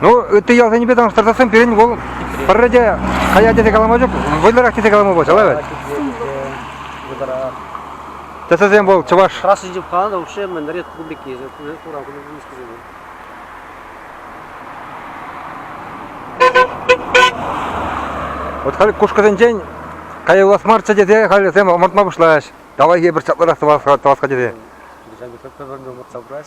Ну, ытти ялсенчипе танлаштарсассӑн пирӗн вӑл пӗрре те кая тесе калама ҫук, вӑйлӑрах тесе калама пулчӗ, лавӗ. Тӗсесем вӑл чӑваш. Краснин 집 가는데 вообще 맨날 республики туран коммунистскис는 Вот халь кушкӑсенчен каялас марччӗ тесе халӗсем ӑмӑртма пуҫлаҫ. Давай эпир чапларах тӑвас тӑвас тесе. Déjà que peut-être ӑмӑртса пырать.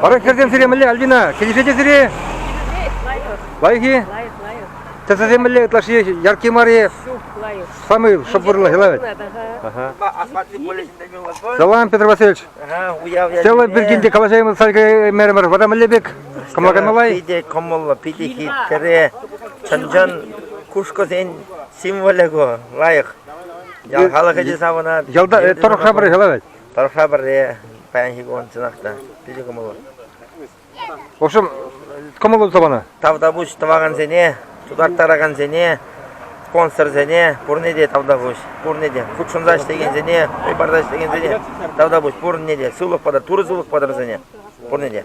Баран хӗрсем сире мӗнле, Альбина, килӗшетӗр сире? Лайӑх-и? Лайӑх, лайӑх. Тӗсӗсем мӗнле ытлашши яркий мар-и? Ҫук, лайӑх. Самый шӑпӑрлӑх илавӗт. Салам, Петр Васильевич. Целый пир килте калаҫаймыз саркай меремер. Вара мӗнле пек? Кӑмла каймалай? Питӗ кӑмӑллӑ, питӗ хитре. Чӑн-чӑн кушкӑсен символӗ ку, лайӑх. Ял халӑхӗ те савӑнать. Ялта торӑхра пар илавӗт. Тӑрӑхра пӗрре, паянхи кун чӑнах та питӗ кӑмӑллӑ. В общем, кӑмӑллӑ туса панӑ. Тавтапуҫ тӑвакансене, тутарттаракансене, спонсорсене пурне те тавтапуҫ. Пурне те хутшӑнса ӗҫлекенсене, хӑй парса ӗҫлекенсене тавтапуҫ. Пурне те сывлӑх патӑр, турӑ сывлӑх патӑр вӗсене. Пурне те.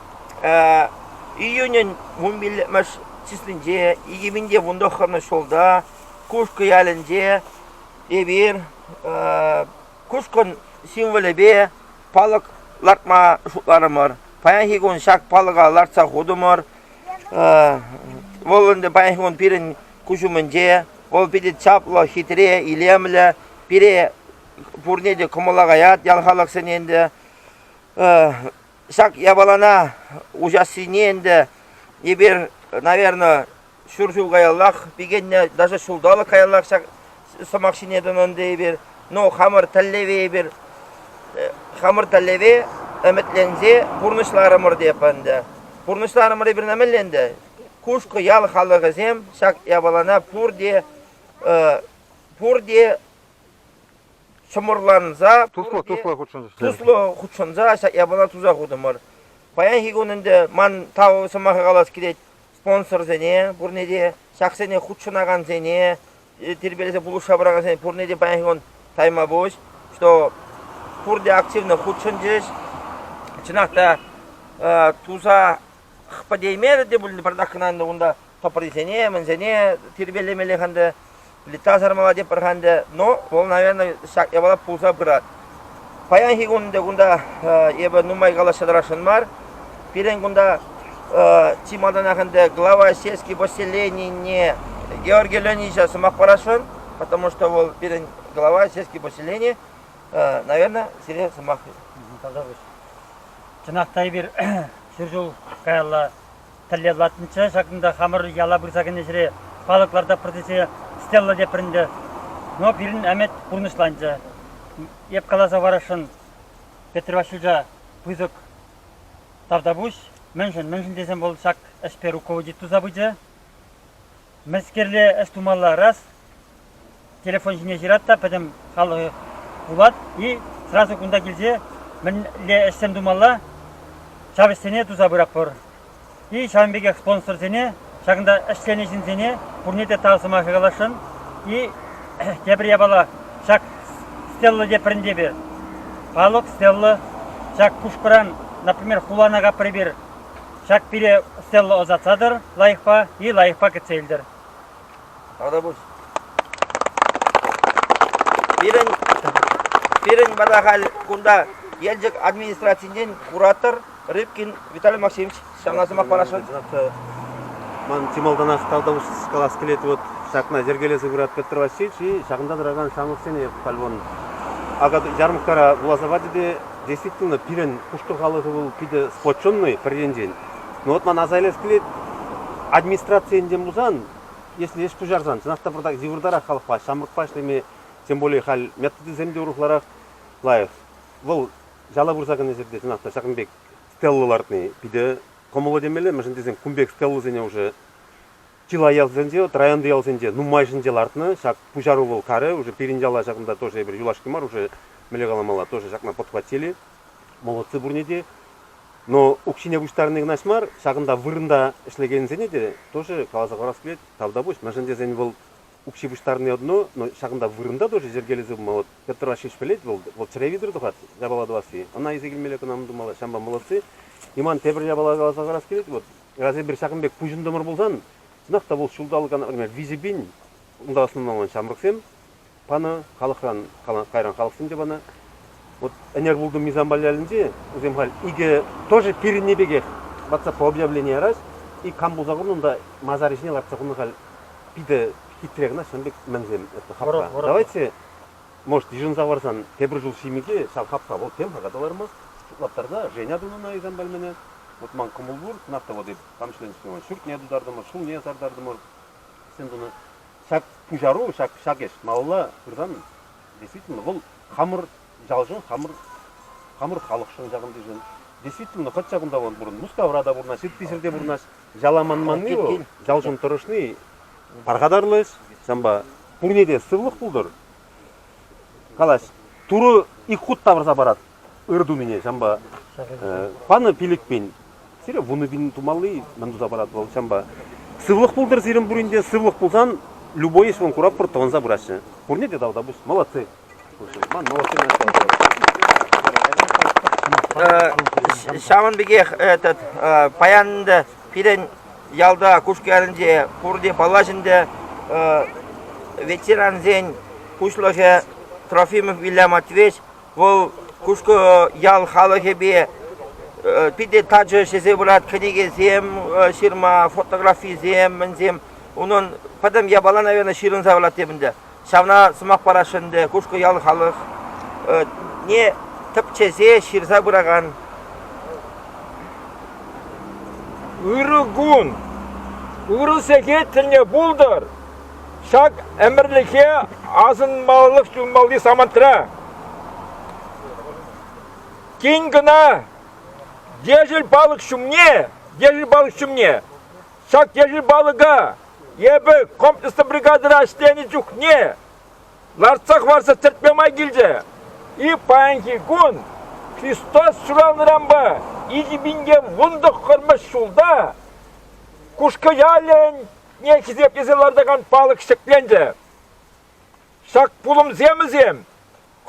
Июнӗн вунпиллӗкмӗш числинче, икӗ вун тӑххӑрмӗш ҫулта Кушкӑ ялӗнче эпир кушкӑн символӗпе палӑк лартма шутларӑмӑр. Паянхи кун ҫак палӑка лартса хутӑмӑр. Вӑл ӗнтӗ паянхи кун пирӗн куҫ умӗнче. Вӑл питӗ чаплӑ, хитре, илемлӗ. Пире пурне те кӑмӑла каять ял халӑхсене ӗнтӗ. ҫак япалана уҫассине ӗнтӗ эпир, наверное, ҫур ҫул каяллах пикеннӗ, даже ҫулталӑк каяллах ҫак сӑмах ҫине тӑнӑ ӗнтӗ эпир. Ну, хамӑр тӗллеве эпир, хамӑр тӗллеве ӗмӗтленсе пурнӑҫларӑмӑр теп ӗнтӗ. Пурнӑҫларӑмӑр эпир мӗнле ӗнтӗ? Кушкӑ ял халӑхӗсем ҫак япалана пурте, пурте чӑмӑрланса туслӑ туслӑ хутшӑнчӗҫ туслӑ хутшӑнса ҫак япала туса хутӑмӑр паянхи кун ӗнтӗ ман тав сӑмаха калас килет спонсорсене пурне те ҫаксене хутшӑнакансене тирпейлесе пулӑшса пыракансене пурне те паянхи кун тайма пуҫ что пурте активно хутшӑнчӗҫ чӑнах та туса пӗтеймерӗ те пулин пӗртак кӑна ӗнтӗ унта тӑприсене, мӗнсене тирпейлемеллех ӗнтӗ, плита сармалла тепӗр-ха ӗнтӗ, но вӑл, наверное, ҫак япала пулса пырать. Паянхи кун те кунта эпӗ нумай калаҫса тӑрасшӑн мар. Пирӗн кунта чи малтанах ӗнтӗ глава сельский поселенине Георгий Леонидовича сӑмах парасшӑн, потому что вӑл пирӗн глава сельский поселени. наверное, сире сӑмах тавтапуҫ. Чӑнах та эпир ҫур ҫул каялла тӗллевлатнӑччӗ. Ҫакӑнта хамӑр яла пырса кӗнӗ ҫӗре палӑк лартатпӑр тесе стелла теппӗр ӗнтӗ. Но пирӗн ӗмӗт пурнӑҫланчӗ. Эп каласа парасшӑн, Петр Васильевича пысӑк тавтапуҫ. Мӗншӗн, мӗншӗн тесен вӑл ҫак ӗҫпе руководить туса пычӗ. Мӗскерле ӗҫ тумалла раз телефон ҫине ҫырать та пӗтӗм халӑх вулать-и, сразу кунта килсе мӗнле ӗҫсем тумалла, ҫав ӗҫсене туса пыратпӑр. И ҫавӑн пекех спонсорсене, ҫакӑнта ӗҫленӗ ҫынсене пурне те тав сӑмахӗ каласшӑн. И тепӗр япала, ҫак стелла теприн тепӗр. Палок стелла. Ҫак кушкӑран, например, хулана капрӑ эпир Ҫак пире стела ӑсатса тӑр лайӑхпа е лайӑхпа кӗтсе илтӗр. Тавта пуҫ. Пирӗн, пирӗн вара халь кунта Елчӗк администрацинчен куратор Рыбкин Виталий Максимович ҫавна сӑмах парасшӑн. Ман чи малтанах тавтапуҫ калас килет, вот ҫакна йӗркелесе пырат Петр Васильевич, и ҫакӑнта тӑракан ҫамрӑксене халь вон акатуй ярмӑрккара вуласа пачӗ те Действительно, пирӗн пушкӑр халӑхӗ вӑл питӗ сплоченный пӗр енчен. Но вот ман аса илес килет, администраци енчен пулсан, если ӗҫ пуҫарсан, чӑнах та пӑртак йывӑртарах халӑхпа, ҫамрӑкпа ӗҫлеме, тем более халь методисем те урӑхларах лайӑх. Вӑл яла пырса кӗнӗ ҫӗрте чӑнах та ҫакӑн пек стелла лартни питӗ кӑмӑллӑ темелле, мӗншӗн тесен кун пек стеллӑсене уже Чылай ялсенче, вот районти ялсенче нумайӑшӗнче лартнӑ ҫак пуҫару вӑл карӗ. Уже пирӗн яла ҫакӑнта тоже эпир юлашки мар уже мӗнле каламалла, тоже ҫакна подхватили. Молодцы пурне те. Но укҫине пуҫтарни кӑна мар, ҫакӑнта вырӑнта ӗҫлекенсене те тоже каласа хӑварас килет, тавтапуҫ. Мӗншӗн тесен вӑл укҫи пуҫтарни одно, но ҫакӑнта вырӑнта тоже йӗркелесе пыма вот Петр Васильевич пӗлет, вӑл вот чӗре витӗр тухать япала тӑвасси. Ӑна илсе килмелле кӑна мӑн тумалла. Ҫавӑнпа молодцы. И ман тепӗр япала каласа хӑварас килет, вот Разве бир ҫакӑн пек пуҫӑнтӑмӑр пулсан, чӑнах та вӑл ҫулталӑкан виҫӗ пин унта ӑсӑнмаллан ҫамрӑксем панӑ, халӑхран, кайран халӑхсем те панӑ. Вот ӗнер пултӑм Мисамбалялӗнче, вӗсем халь икӗ тоже пирӗнни пекех лартса по объявлени ярас, и кам пулса курнӑ унта масар ӗҫне лартса хунӑ халь питӗ хитре кӑна ҫавӑн пек мӗнсем это хапха. Давайте Может, йышӑнса парсан, тепӗр ҫул ҫимӗке ҫав хапха вӑл тем хака та лармасть, шутлаттарса Женя тунӑ наикан пальмине. Вӑт ман кӑмӑл пур, Нафта води промышленноҫне, ҫуртне тутартӑмӑр, ҫулне сартартӑмӑр. Сен тунӑ ҫак пуҫару, ҫак, ҫак ӗҫ малалла пырсан, действительно, вӑл хамӑр ялшӑн, хамӑр, хамӑр халӑхшӑн ҫакӑнтишӗн. Действительно, хӑть ҫакӑнта вӑн пурӑн, Мускавра та пурӑнас, ҫыртти-ҫӗрте пурӑнас. Яла манманни вӑл, ялшӑн тӑрӑшни пархатарлӑ ӗҫ. Ҫавӑнпа пурне те сывлӑх пултӑр. Калаҫ, турӑ ик хут тавӑрса парать ыр тунине, ҫавӑнпа панӑ пилӗкпен сире вунӑ тумалли мӗн туса парать вӑл, ҫавӑнпа сывлӑх пултӑр сирӗн пурин те, сывлӑх пулсан любой ӗҫ вӑн куратпӑр тӑвӑнса пыраҫҫӗ. Пурне те тавта пуҫ, молодцы. Ман новости начала Ҫавӑн пекех этот паян ӗнтӗ пирӗн ялта Кушкарӗнче пурте паллаҫ ӗнтӗ ветерансен пуҫлӑхӗ Трофимов Вилля Матвеевич вӑл Кушкӑ ял халӑхӗпе питӗ тачӑ ҫӗсе пырать кӗнекесем ҫырма фотографисем мӗнсем унӑн пӗтӗм япала наверное ҫырӑнса пырать тем ӗнтӗ Ҫавна сӑмах парасшӑн ӗнтӗ Кушкӑ ял халӑхне тӗпчесе ҫырса пыракан ырӑ кун, ырӑ сехет тӗлне пултӑр. Ҫак ӗмӗрлӗхе асӑнмаллах юлмалли самантра тин кӑна Ешӗл палӑк ҫумне, Ешӗл палӑк ҫумне Ҫак ешӗл палӑка эпӗ комплекслӑ бригадӑра ӗҫленӗ чухне лартса хӑварса тӗртме май килчӗ. И паянхи кун Христос ҫуралнӑранпа икӗ пинте вунтӑк хӑрмӑш ҫулта Кушкӑ-ялӗне хисеплесе лартакан палӑк ҫӗкленчӗ. Ҫак пулӑмсемӗсем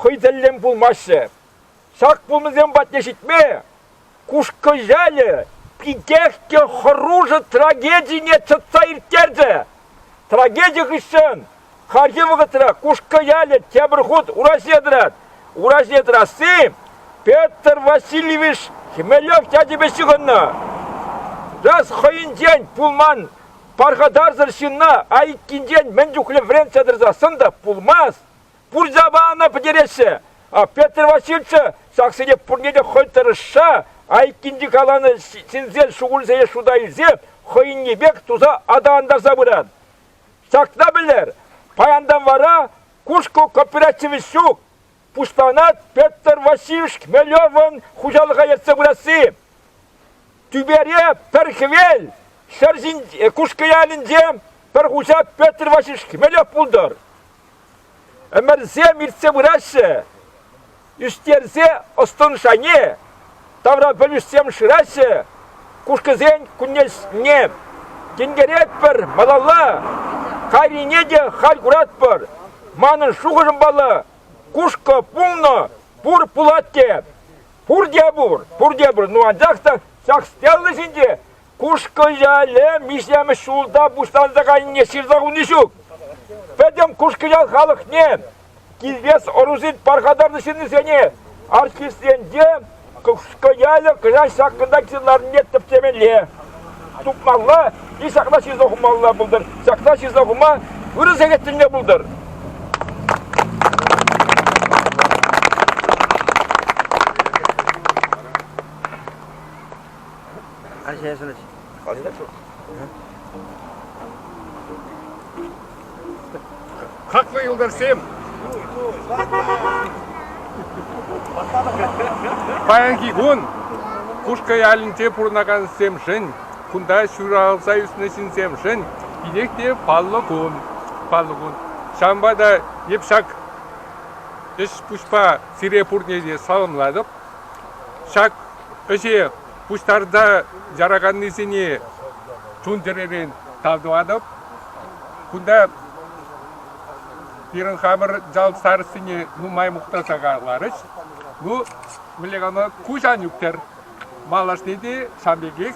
хӑй тӗллӗн пулмаҫҫӗ. Ҫак пулӑмсем патне ҫитме Кушкӑ ялӗ питех те хӑрушӑ трагедине чӑтса ирттерчӗ. Трагеди хыҫҫӑн хальхи вӑхӑтра Кушкӑ ялӗ тепӗр хут ураҫне тӑрать. Ураҫне тӑрасси Петр Васильевич Хмелев ячӗпе ҫыхӑннӑ. Час хӑйӗнчен пулман пархатарсӑр ҫынна айккинчен мӗн чухлӗ вӗрентсе тӑрса сӑн та пулмасть. пурсапа ӑна пӗтереҫҫӗ. А Петр Васильевича ҫаксене пурне те хӑй тӑрӑшса айккинчи каланӑ сӗнсе шухӑлсене шута илсе хӑйӗнни пек туса аталантарса пырать. Ҫакна пӗлер, паянтан вара Кушку кооперативӗ ҫук, пуҫланать Петр Васильевич Хмелевӑн хуҫалӑха ертсе пырасси. Тӳпере пӗр хӗвел, ҫӗр ҫин, Кушкӑ ялӗнче пӗр хуҫа Петр Васильевич Хмелев пултӑр. Ӗмӗрсем иртсе пыраҫҫӗ. Ӳстерсе ӑс-тӑн шайне тавра пӗлӳҫсем шыраҫҫӗ. Кушкӑсен кунне тинкеретпӗр малалла. Кайрине те халь куратпӑр. Манӑн шухӑшӑм паллӑ, кушкӑ пулнӑ, пур пулать те. Пурте пур, пурте пур. Ну анчах та ҫак стелла ҫинче Кушкӑ-яле миҫемӗш ҫулта пуҫланса кайнине ҫырса хуни ҫук. Пӗтӗм Кушкӑ-ял халӑхне, килтес ӑрусен пархатарлӑ ҫыннисене, артистсенче Кушкӑ-ялӗ кӑҫал ҫакӑнта килсе ларнине тӗпчемелле. Тупмалла и ҫакна ҫырса хумалла пултӑр. Ҫакна ҫырса хума ырӑ сехет тӗлне пултӑр. Аҫешӗн ӗҫ. Калаҫать шу. Хаклӑ юлташсем! Паянхи кун Кушкӑ ялӗнче пурӑнакансемшӗн, кунта ҫуралса ӳснӗ ҫынсемшӗн тинех те паллӑ кун. Паллӑ кун. Ҫавӑнпа та эп ҫак ӗҫ-пуҫпа сире пурне те саламлатӑп. Ҫак ӗҫе пуҫтарса яраканнисене чун-чӗререн тав тӑватӑп. Кунта пирӗн хамӑр ял старостине нумай мухтаса каларӗҫ. Ну, мӗнле калама, куҫан ӳктер. Малашне те ҫав пекех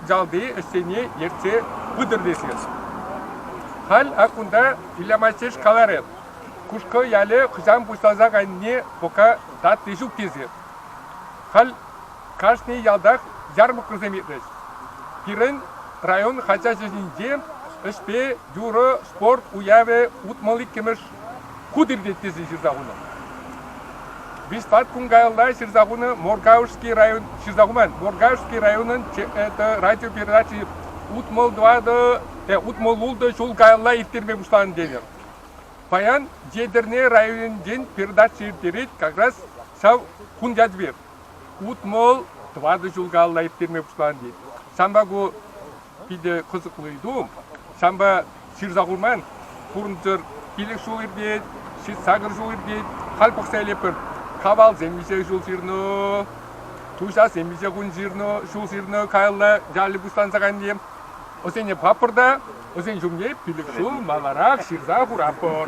ялти ӗҫсене ертсе пытӑр тесе. Халь ак кунта Илья Мальчиш каларӗ, Кушкӑ ялӗ хӑҫан пуҫланса кайнине пока татти ҫук тесе. Халь кашни ялтах ярмӑрккӑсем иртӗҫ. Пирӗн район хаҫачӗ ҫинче ӗҫпе юрӑ спорт уявӗ утмӑл иккӗмӗш хут иртет тесе ҫырса хунӑ. Виҫпат кун каялла ҫырса хунӑ Моргаушский район ҫырса хуман. Моргаушский районӑн это радиопередачи утмӑл тӑватӑ те утмӑл ултӑ ҫул каялла ирттерме пуҫланӑ тенӗ. Паян Етӗрне районӗнчен передача ирттерет как раз ҫав кун ятпе. Утмӑл тӑватӑ ҫул калла ирттерме пуҫланӑ тет. Ҫавӑнпа ку питӗ кӑсӑклӑ ыйту. Ҫавӑнпа ҫырса хурман. Пурӑнчӑр пилӗк ҫул иртет, ҫитсакӑр ҫул иртет. Халь пӑхса илетпӗр. Кавалсем виҫе ҫул ҫырнӑ, туҫасем виҫе кун ҫырнӑ, ҫул ҫырнӑ. Каялла ялӗ пуҫланса кайнӑ тем. Вӗсене папӑрта, вӗсен ҫумне пилӗк ҫул маларах ҫырса хуратпӑр.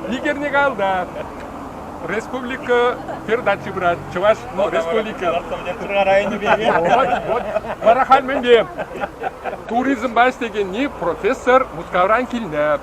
Егерне калда. Республика передачи брат. Чӑваш ну, республика. Вара хам мӗнпе туризмпа ӗҫлекенни профессор Мускавран килнӗ.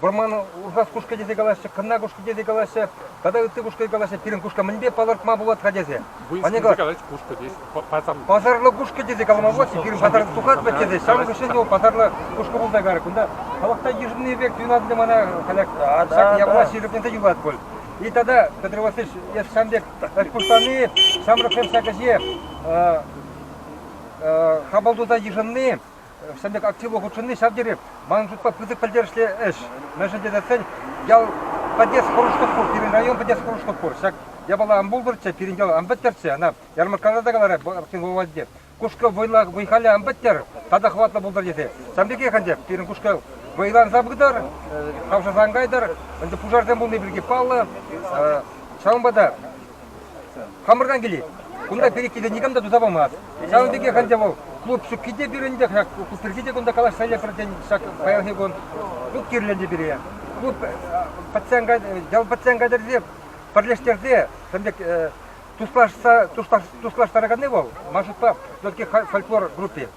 Вӑрман урхас кушкӑ тесе калаҫҫӗ, кӑнна кушкӑ тесе калаҫҫӗ, тата ытти кушкӑ калаҫҫӗ. Пирӗн кушка мӗнпе палӑртма пулать-ха тесе. Вынскинсе калать кушкӑ тесе. Пасарлӑ. Пасарлӑ кушкӑ тесе калама пулать. Пирӗн пасар тухать вӗт тесе. Ҫавӑн хыҫҫӑн его пасарлӑ кушкӑ пулса карать. Кунта халӑхта йышӑнни пек туйӑнать ӗнтӗ мана халь. Ҫак явӑлаҫ йышӑннине юлать пуль. И тогда, Петр Васильевич, эс ҫам пек отпускани, ҫамрӑксем ҫак ӗҫе хапӑл туса йышӑнни Ҫӗнӗ актива хутшӑнни ҫав тери, манӑн шутпа, пысӑк пӗлтерӗшлӗ ӗҫ. Мӗншӗн тесен ял пӗтес хӑрушлӑх пур, пирӗн район пӗтес хӑрушлӑх пур. Ҫак япала ан пултӑрччӗ, пирӗн ял ан пӗттӗрччӗ, ана ярмӑрккаласа каларӗ Актинховатӗ. Кушкӑ вӑй-халӗ ан пӗттер, тата хӑватлӑ пултӑр тесе. Ҫавӑн пекех ӗнтӗ пирӗн кушкӑ вӑйланса пытӑр, хавшаса ан кайтӑр. Ӗнтӗ пушарсем пулни пирки паллӑ. Ҫавӑнпа та Хамӑртан килет. Кунта переккине никам та туса памасть. Ҫавӑн пекех ӗнтӗ вӑл клуб ҫукки те пирӗнтех, пирки те кунта калаҫса лекпӗр тен, ҫак паянхи кун клуб кирлӗ пире. Клуб пациента, ял пациента кӗрсе пӗрлештерсе, пӗм пек туслаштараканни вӑл, Машутпа все-таки фольклор группи.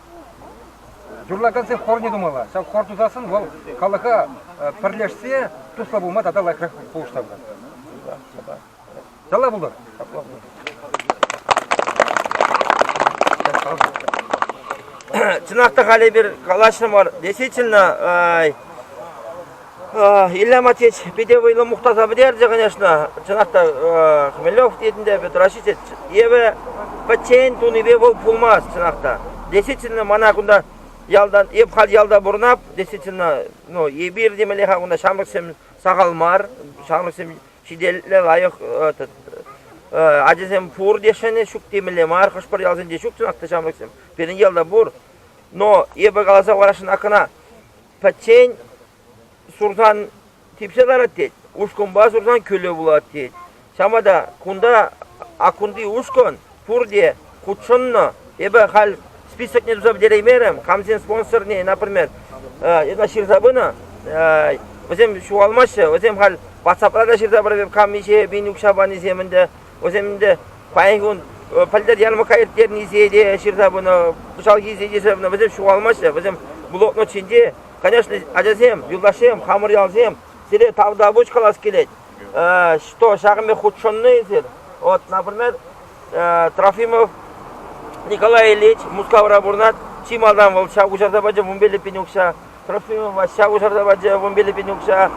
Юрлакансен хорне тумалла. Ҫав хор тусассӑн вӑл халӑха пӗрлешсе туслӑ пулма тата лайӑхрах пулӑшса пырать. Яла пултӑр. Чӑнах та халӗ эпир калаҫрӑмӑр. Действительно, Илья Матвеевич питӗ вӑйлӑ мухтаса пӗтерчӗ, конечно. Чӑнах та Хмелев тетӗнте Петр Ащисович евӗ пӗччен тунипе вӑл пулмасть, чӑнах та. Действительно, мана кунта ялтан, эп халь ялта пурӑнап, действительно, ну, эпир темелле-ха кунта ҫамрӑксем сахал мар, ҫамрӑксем ҫителӗклӗ лайӑх ачасем пурте ҫӗнӗ ҫук темелле мар хӑш-пӗр ялсенче ҫук чӑнах ҫамрӑксем пирӗн ялта пур но эпӗ каласа хӑварасшӑн кӑна пӗччен сурсан типсе ларать тет ушкӑнпа сурсан кӳлӗ пулать тет ҫавӑнпа та кунта аккунти ушкӑн Пурте хутшӑннӑ. Эпӗ халь списокне туса пӗтереймерӗм. Камсен спонсорне например, эна ҫырса пынӑ. Вӗсем ҫухалмаҫҫӗ. Вӗсем халь WhatsAppра та ҫырса параҫҫӗ. Кам миҫе пин укҫа панисем ӗнтӗ. Вӗсем ӗнтӗ паянхи кун пӗлтӗр ярмӑркка ирттернисене те ҫырса пынӑ. Кӑҫалхисене те ҫырса пынӑ. Вӗсем ҫухалмаҫҫӗ. Вӗсем блокнот ҫинче. Конечно, ачасем, юлташсем, хамӑр ялсем сире тавтапуҫ калас килет. что ҫакӑн пек хутшӑннӑ эсир. Вот, например, Трофимов Николай Ильич Мускавра пурӑнать. Чи малтан вӑл ҫак уҫарса пачӗ вунпиллӗк пин укҫа. Трофимова ҫак уҫарса пачӗ вунпиллӗк пин укҫа.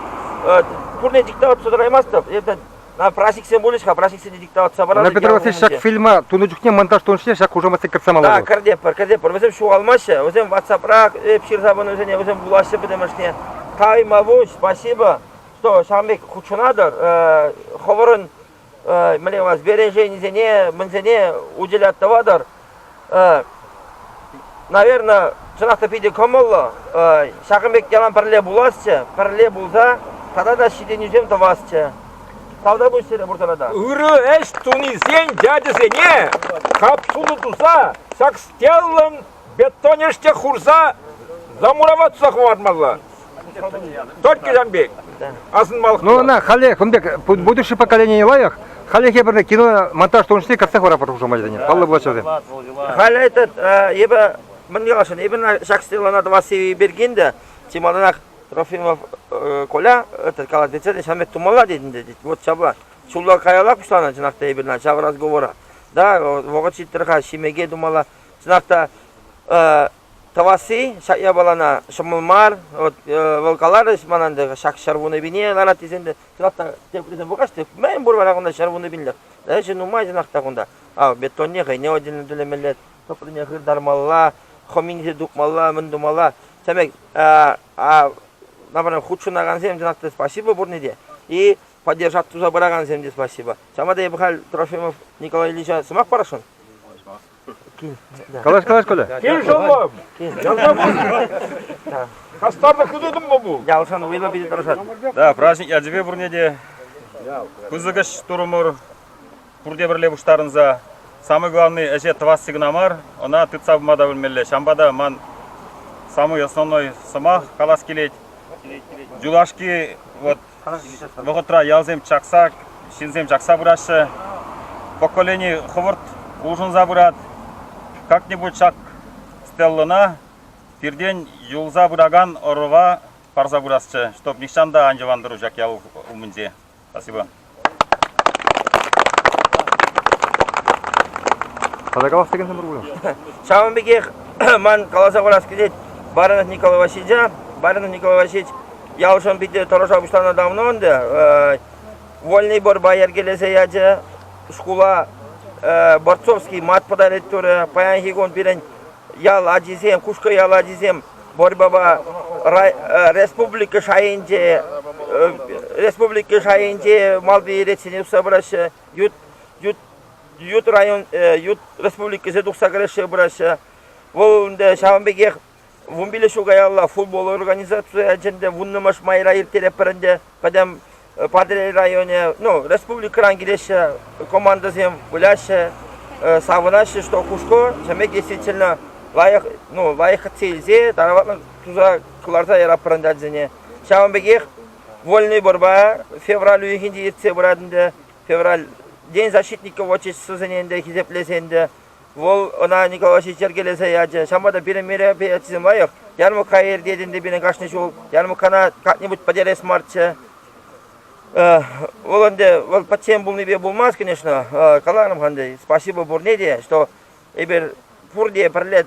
Пурне диктоваться тӑраймастӑп. Это праҫниксем пулӗҫ-ха, праҫниксене диктоваться паратӑп. На Петр Васильевич ҫак фильма тунӑ чухне монтаж тунӑ чухне ҫак хушаматсем кӗртсе малалла. Да, кӗртеппӗр, кӗртеппӗр. Вӗсем ҫухалмаҫҫӗ, вӗсем WhatsAppра эп ҫырса пынӑ вӗсене, вӗсем вулаҫҫӗ пӗтӗмӗшне. Таймавуҫ, спасибо. то ҫавӑн пек хутшӑнатӑр. Хӑвӑрӑн мӗне сбереженисене, мӗнсене уделят тӑватӑр. Наверное, чӑнах та питӗ кӑмӑллӑ. Ҫакӑн пек ялан пӗрле пуласчӗ, пӗрле пулса тата та ҫитӗнӳсем тӑвасчӗ. Тавта пуҫ сире пурсарата. Ырӑ ӗҫ тунисен ячӗсене хапсуллӑ туса ҫак стеллӑн Бетонеште хурса замуроваться хӑвармалла. Только ҫан пек. Асӑнмалӑх. Ну ӑна халӗ кун пек будущее поколение лайӑх. Халлӗхе пӗр киномонтаж тунӑҫне кӗртсе хӑрапӑр хушамай тенӗ. Паллӑ влаҫасем. Халӗ этот эпӗ мӑн ялшӑн эпӗ ҫак стелана тӑвасси бергенде чемоданах Трофимов Коля этот калать вечерне ҫан пек тумалла тетӗн те вот ҫапла ҫулла каялла пуҫланӑ чӑнах та эпир ҫав разговора да вӑхӑт ҫиттӗр-ха ҫимеке тумалла Чӑнах та, тӑвасси ҫак япалана ҫӑмӑл мар. Вот, вӑл каларӗҫ ман ӗнтӗ, ҫак ҫӗр вуннипине ларать тесен те, чӑнах та, теприсем пулкаҫ те, мӗн пур вара кунта ҫӗр вуннипиллӗх. Ӗҫӗ нумай чӑнах та кунта. Ав, бетонне хӑйне отдельно тӳлемелле, тӑприне хыртармалла, хӑминче тупмалла, мӗн тумалла. Тӗмек, например, хутшӑнакансем чӑнах та спасибо пурне те. И поддержать туса пыракансем те спасибо. Ҫавна та эпӗ халь Трофимов Николай Ильича сӑмах парасшӑн. Калаш, калаш, Коля. Кем шомом? Ялсам Хастарда хытӑтӑм ба бул. Ялсан уйла питӗ тӑрӑшат. Да, праздник ячӗпе пурне те пысӑкӑш турумур пурте пӗрле пуҫтарӑнса самый главный ӗҫе тӑвасси кӑна мар, ӑна тытса пыма та пӗлмелле. Ҫавӑнпа та ман самый основной сӑмах калас килет. Юлашки вот вӑхӑтра ялсем чакса, ҫынсем чакса пыраҫҫӗ. Поколени хӑвӑрт улшӑнса пырать. Как-нибудь ҫак стеллӑна пиртен юлса пыракан ӑрӑва парса пырасчӗ, чтобы нихҫан та ан йӑвантару ҫак ял умӗнче. Спасибо. Каласа кӗнсем пур Ҫавӑн пекех ман каласа хурас килет Баранов Николай Васильевича. Баранов Николай Васильевич Яушӑн питӗ тӑрӑша пуҫланӑ давно ӗнтӗ. Вольный борба йӗркелесе ячӗ. Шкула Борцовский мат подарить турӗ. Паянхи кун пирӗн ял ачисем, Кушкӑ ял ачисем борьбӑпа республика шайӗнче республика шайӗнче малти ретсене тухса пыраҫҫӗ. Ют ют ют район ют республикӑсем тухса кӗрешсе пыраҫҫӗ. Вӑл ӗнтӗ ҫавӑн пекех вунпилле ҫул каялла футбол организаци ячӗнче вуннӑмӗш майра ирттеретпӗр ӗнтӗ. Пӗтӗм Патӑрьел районӗ, ну, республикӑран килеҫҫӗ, командӑсем выляҫҫӗ, савӑнаҫҫӗ, что хушко чӗмек действительно лайӑх, ну, лайӑххӑтса илсе, тараватлӑн туса кӑларса яратпӑр ӗнтӗ ачасене. Ҫавӑн пекех Вольный борьба февраль уйӑхӗнче иртсе пырать ӗнтӗ. Февральтен защитников отчествосене ӗнтӗ хисеплесе ӗнтӗ Вӑл ӑна Николай ҫеҫ йӗркелесе ячӗ. Ҫавӑнпа та пирӗн мероприятисем лайӑх. Ярмӑркка иртет ӗнтӗ пирӗн кашни ҫул. Ярмӑрккана как-нибудь потерес марччӗ. Вӑл ӗнтӗ вӑл пӗччен пулнипе пулмасть, конечно. Каларӑм-ха ӗнтӗ, спасибо пурне те, что эпир пурте пӗрле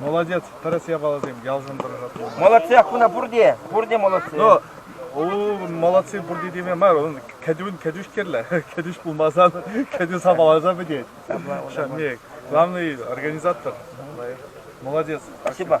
Молодец, тӗрӗс япаласем ялшӑн тӑрӑшатпӑр. Молодцах куна пурте, пурте молодцы. Ну, у молодцы пурте теме мар, он кӗтӳн кӗтӳш кирлӗ. Кӗтӳш пулмасан кӗтӳ сапаласа пӗтет. Не, главный организатор. Молодец. Спасибо.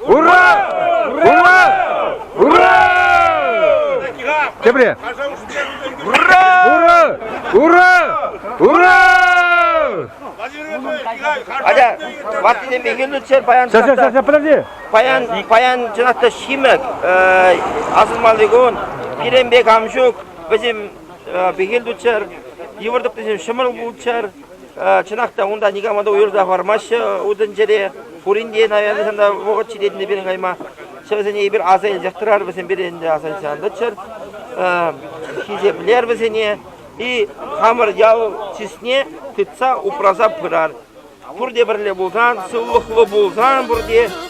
Ура! Ура! Ура! Тепре! Ура! Ура! Ура! Ура! Атя, ваттинелле хӗнӗтсер паян... Ся, ся, ся, ся, подожди! Паян, паян чӑнах ҫимӗк асӑнмалликун, пиренбек ам ҫук, вӗсем бехел тутчар, йывӑр тӑптисем ҫӑмӑл пулчар. Чӑнах та унта никама та уйӑрса хӑвармаҫҫӗ утӑнчӗре. Пурин те, наверное, та вӑхӑт ҫитетӗн데 пирӗн кайма. Вӗсене эпир аса илсех тӑрар, вӗсем пире ӗнтӗ аса илсе ан тӑччӑр. Хисеплер вӗсене и хамӑр ял чысне тытса упраса пырар. Пурте пӗрле пулсан, сывлӑхлӑ пулсан, пурте